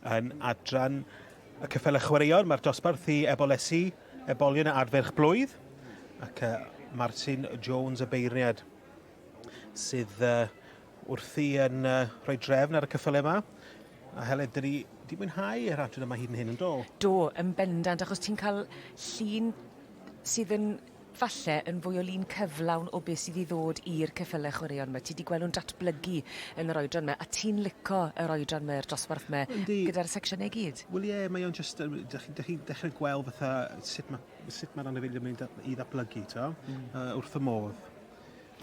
Yn adran y cyffelydd chwaraeon, mae'r dosbarth i ebolesu ebolion a adferch blwydd, ac uh, Martin Jones y beirniad sydd uh, wrthi yn uh, rhoi drefn ar y cyffelydd yma. A Helen, dyn ni wedi mwynhau yr adran yma hyd yn hyn yn dol? Do, yn bendant, achos ti'n cael llun sydd yn falle yn fwy o lun cyflawn o beth sydd i ddod i'r ceffylau chwaraeon 'ma. Ti 'di gweld nhw'n datblygu yn yr oedran 'ma, a ti'n lico yr oedran 'ma, yr dosbarth 'ma... Yndi... gyda'r secsiynau i gyd? Wel ie, mae o'n jyst yn... dach chi'n... dach chi'n dechre gweld fatha sut ma' sut ma'r anifeiliaid mynd da- i ddatblygu t'o'? Hmm. Yy wrth fy modd.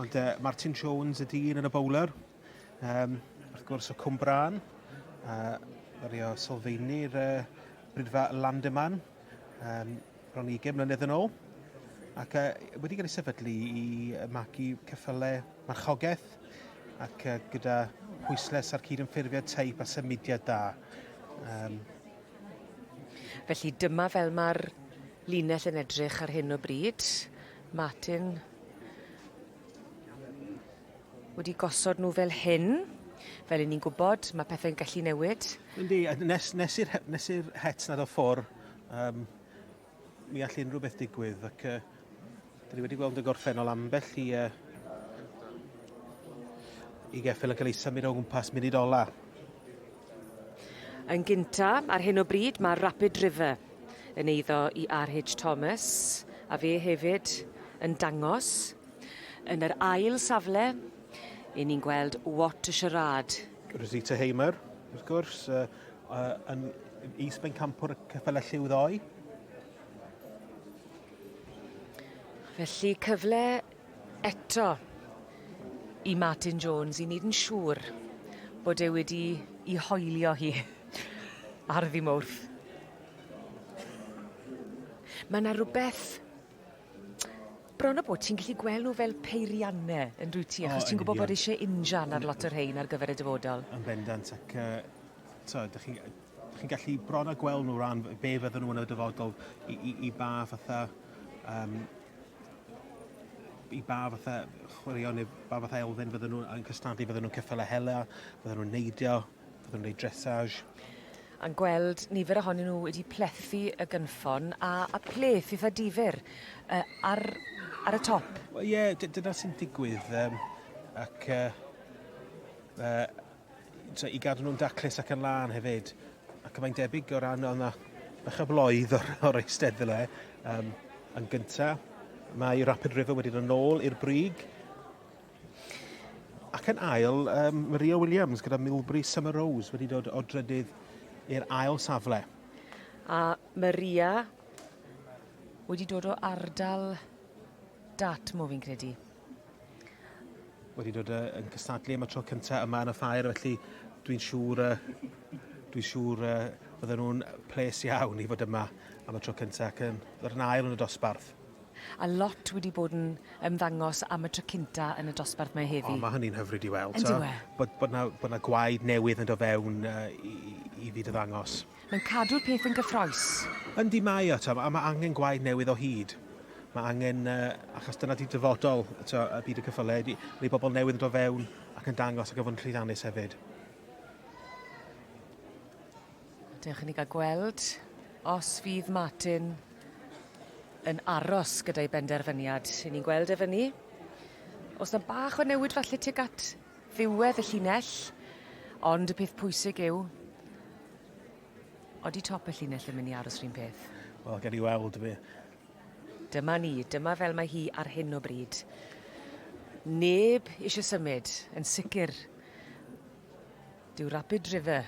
Ond yy Martin Jones y dyn yn y bowler, yym wrth gwrs y Cwm Brân, a ddaru o sylfaenu'r yy Brydfa Landyman, yym bron i ugain mlynedd yn ôl ac yy wedi cael ei sefydlu i yy magu ceffylau marchogaeth ac yy gyda pwyslais ar cydymffurfiad teip a symudiad da. Um... Felly dyma fel mae'r linell yn edrych ar hyn o bryd. Martin. wedi gosod nhw fel hyn. Fel i ni'n gwybod, mae pethau'n gallu newid. Yndi, nes, nes i'r nes i'r het nad o ffwr, um, mi all unrhyw beth digwydd, ac uh, dyn ni wedi gweld yn gorffennol ambell i, uh, i geffil yn cael ei symud o gwmpas munud ola. Yn gynta, ar hyn o bryd, mae Rapid River yn eiddo i R.H. Thomas, a fe hefyd yn dangos Yn yr ail safle, yn ni'n gweld What a Charade. Rosita Hamer, wrth gwrs, yn is-bencampwr y ceffylau lliw ddoe. Felly cyfle eto i Martin Jones i wneud yn siŵr bod e wedi i hoelio hi ar ddim wrth. Mae yna rhywbeth Bron a bod ti'n gallu gweld nhw fel peirianne, yn dwyt ti? Achos ti'n gwybod bod eisiau injan ar lot o'r rhain ar gyfer y dyfodol. Yn bendant, ac uh, ydych chi'n chi gallu bron a gweld nhw ran be fydden nhw yn y dyfodol i, i, i ba fatha um, i ba fatha chwaraeon neu ba fatha elfen fydden nhw'n cystadlu, fydden nhw'n cyffel a hela, fydden nhw'n neidio, Byddwn yn ei dressage. A'n gweld nifer ohonyn nhw wedi plethu y gynffon a, a pleth eitha difyr uh, ar, ar y top. Wel ie, yeah, dyna sy'n digwydd. Um, ac uh, uh, so, i gadw nhw'n daclus ac yn lân hefyd. Ac mae'n debyg o ran o'na bach o bloedd o'r, or eistedd fel e. Um, yn gyntaf, mae Rapid River wedyn yn ôl i'r brig. Ac yn ail, um, Maria Williams gyda Milbury Summer Rose wedi dod o drydydd i'r ail safle. A Maria wedi dod o ardal Dartmoor fi'n credu. Wedi dod yn cystadlu am y tro cyntaf yma yn y ffair, felly dwi'n siŵr, uh, dwi'n siŵr uh, fydden nhw'n ples iawn i fod yma am y tro cyntaf ac yn ddod yn ail yn y dosbarth. A lot wedi bod yn ymddangos am y tro cynta yn y dosbarth 'ma heddi. O ma' hynny'n hyfryd i weld. Yndyw e? Bod bod 'na bod 'na gwaed newydd yn do' fewn yy i i i fyd y ddangos. Mae'n cadw'r peth yn gyffrous. Yndi mae o t'o' a ma' angen gwaed newydd o hyd. Ma' angen yy achos dyna 'di dyfodol t'o' y byd y cyffyle ydi ydi bobol newydd yn do' fewn ac yn dangos ac yn fod yn llwyddiannus hefyd. Dewch i ni gael gweld os fydd Martin yn aros gyda'i benderfyniad. Rydyn ni'n gweld e fyny. Os na bach o newid falle tuag at ddiwedd y llinell, ond y peth pwysig yw, odi top y llinell yn mynd i aros rhywun peth? Wel, gen i weld fi. Dyma ni, dyma fel mae hi ar hyn o bryd. Neb eisiau symud, yn sicr. Dyw Rapid River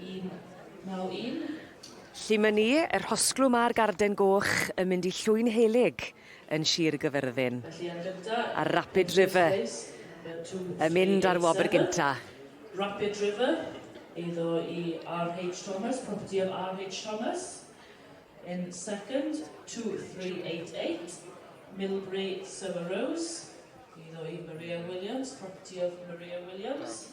1991. Llym yn ni, y rhosglwm a'r garden goch yn mynd i Llwyn Helyg yn Sir y Gyfyrddin. A'r Rapid River yn mynd ar wobr gynta. Rapid River, eiddo i RH Thomas, property of RH Thomas. In second, 2388, Millbury Summer Rose, eiddo i Maria Williams, property of Maria Williams.